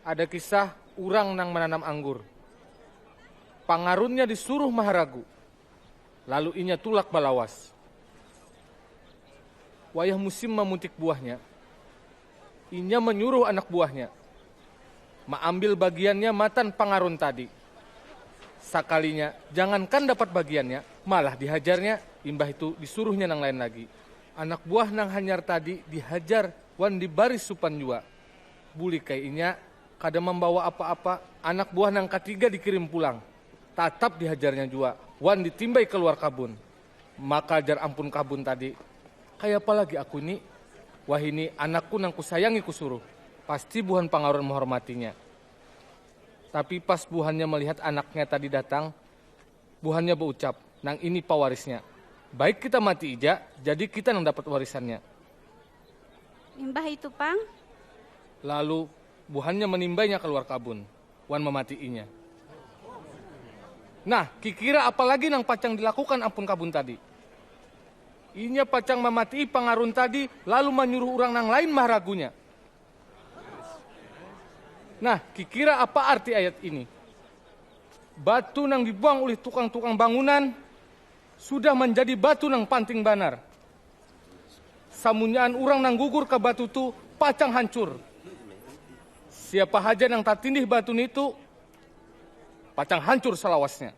Ada kisah urang nang mananam anggur. Pangarunnya disuruh maharagu, lalu inya tulak balawas. Wayah musim mamuntik buahnya. Inya manyuruh anak buahnya maambil bagiannya matan pangarun tadi. Sakalinya, jangankan dapat bagiannya, malah dihajarnya, imbah itu disuruhnya nang lain lagi. Anak buah nang hanyar tadi dihajar wan dibari supan jua. Bulik ai inya kada mambawa apa-apa, anak buah nang katiga dikirim pulang. Tatap dihajarnya jua wan ditimbai kaluar kabun. Maka jar ampun kabun tadi, Kayapa lagi aku ni? Wahini anakku nang kusayangi kusuruh, pasti buhan pangaruan mahormatinya. Tapi pas buhannya melihat anaknya tadi datang, buhannya beucap, Nang ini pawarisnya. Baik kita mati ija, jadi kita nang dapat warisannya. Imbah itu pang. Lalu buhannya menimbainya kaluar kabun. wan mamati'inya. Nah, kikira apa lagi nang pacang dilakukan ampun kabun tadi? Inya pacang mamati'i pangarun tadi lalu manyuruh urang nang lain maharagunya. Nah, kikira apa arti ayat ini? Batu nang dibuang ulih tukang-tukang bangunan sudah manjadi batu nang panting banar. Samunyaan urang nang gugur ka batu tu pacang hancur. Siapa haja nang tatindih batu nitu pacang hancur salawasnya.